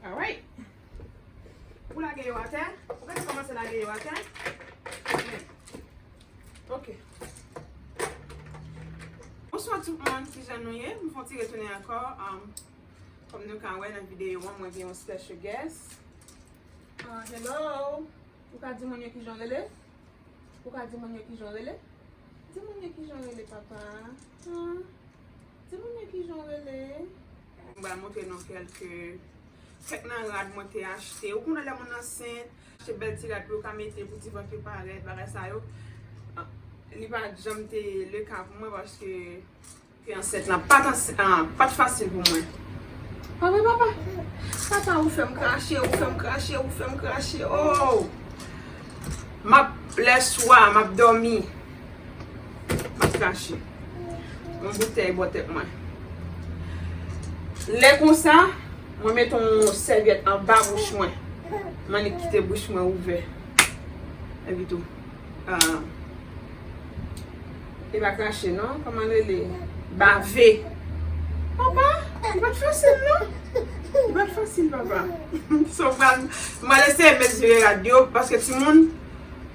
Alright. Ou lage yo atè. Ou ka te komanse lage yo atè. Men. Ok. Bonswa tout moun. Ki jan nou ye? M fon ti retounen ankò. Kòm nou ka wè nan videyo an, mwen gen yon special guest. Ah, hello. Ou ka di moun yo ki jan w rele? Ou ka di moun yo ki jan w rele? Di moun yo ki jan w rele, papa. Ah. Timoun yo kijan w rele? M pral montre nou kelke kèk nan rad mwen te achte. Ou konnen lè moun ansent, achte bèl ti rad pou yo ka mete pou ti vant yo parèt, bagay sa yo. Li pa janm te le ka pou mwen paske te ansent lan pa t fasil pou mwen. Pa vre papa? Papa ou fè m krache, ou fè m krache, ou fè m krache, oo. M ap, lè swa, m ap dòmi. Map krache. Yon boutèy bò tèt mwen. Lè konsa, mwen met yon sèvyèt anba bouch mwen. M annik kite bouch mwen ouvè. Epi tou. E pa krache non. Koman li rele? Bave. Papa, li pat fasil non. Li pat fasil papa. Mwen lese men jere radyo. Paske ti moun.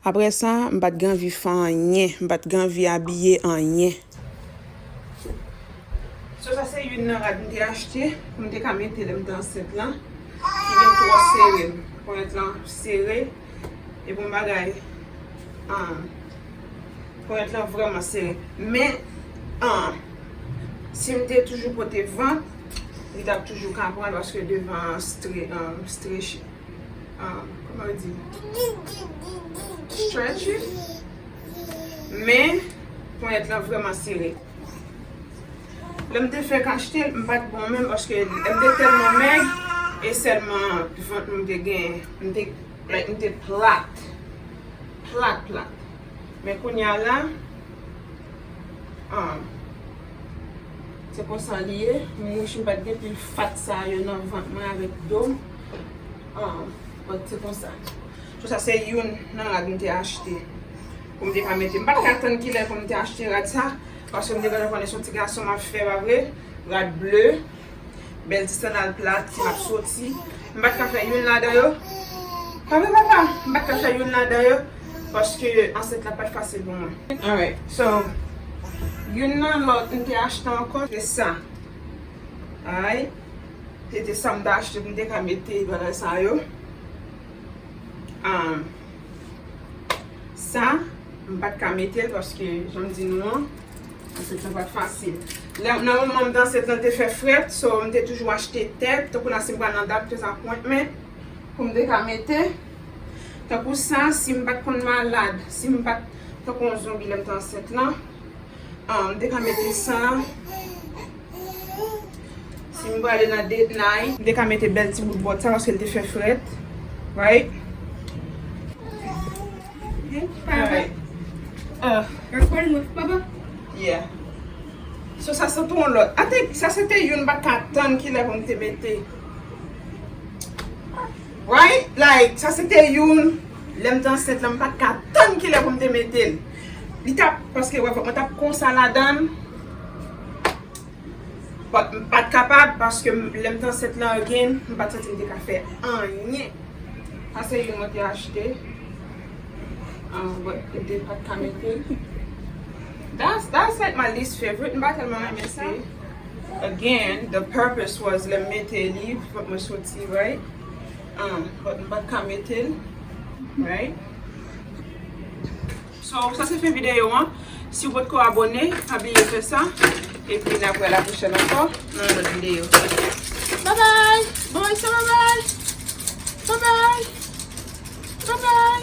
Aprè sa, m pa t gen anvi fè anyen, m pa t gen anvi abiye anyen. So sa se youn nan rad m te achte pou m te ka mete lè m te ansent lan ki vin twò sere m. Ponyèt lan sere e bon bagay ponyèt lan vrèman sere. Men si m te toujou pote vant li t ap toujou ka pran l paske devan an strechi. Kouman yo di? Stretchy. Men, ponyèt lan vreman sere. Lè m te fèk achte l, m pa t bon menm paske m te tèlman mèg e sèlman vant mwen m te gen. M te, like, m te plat. Plat, plat. Men kounya la, se konsa li ye. M wich m pa t gen pil fat sa yo nan vant mwen avèk do m. An, bon se konsa. Sou sa se youn nan rad m te achte pou m te ka mete. M pa t ka tann ki lè pou m te achte rad sa paske m te gentan konnen se yon ti gason m ap fè, pa vre? Rad ble, bèl ti sandal plat m ap soti. M pa t ka fè youn ladan yo. Pa vre papa? M pa t ka fè youn ladan yo paske ansent la pa t fasil pou mwen. Alright, so youn nan lòt m te achte ankò se sa. Alright. Se te sa m ta achte pou m te ka mete bagay sa yo. Sa, m pa t ka mete l paske jan m di nou an, ansent lan pa t fasil. Nan moman m te ansent lan te fè frèt, so m te toujou achte tè, tankou la si m pral nan dat tout sa pwent men, pou m te ka mete. Tankou sa, si m pa t konn malad, si m pa t tankou yon zonbi lè m te ansent lan, m te ka mete sa. Si m prale nan date night. M te ka mete bèl ti bout bòt sa paske l te fè frèt. Right? Yeah. So sa se pou yon lòt. I think sa se te youn m pa t ka tann ki lè pou m te mete. Right? Like sa se te youn lè m te ansent lan m pa t ka tann ki lè pou m te mete l. Li t ap paske wè mwen t ap konsa ladan. But m pat kapab paske lè m t ansent lan again m pat santi m te ka fè anyen. Sa se youn mwen te achte um but m te pat ka mete. That's that's like my least favorite m pa tèlman renmen sa. Again the purpose was lè m mete li fòk mwen soti right um but m pat ka mete l right. So sa se fen videyo an. Si ou potko abone, pa bliye fè sa. Epi nap wè la pwochèn ankò nan yon lòt videyo. Babay! Bon wè sa babay! Babay! Babay!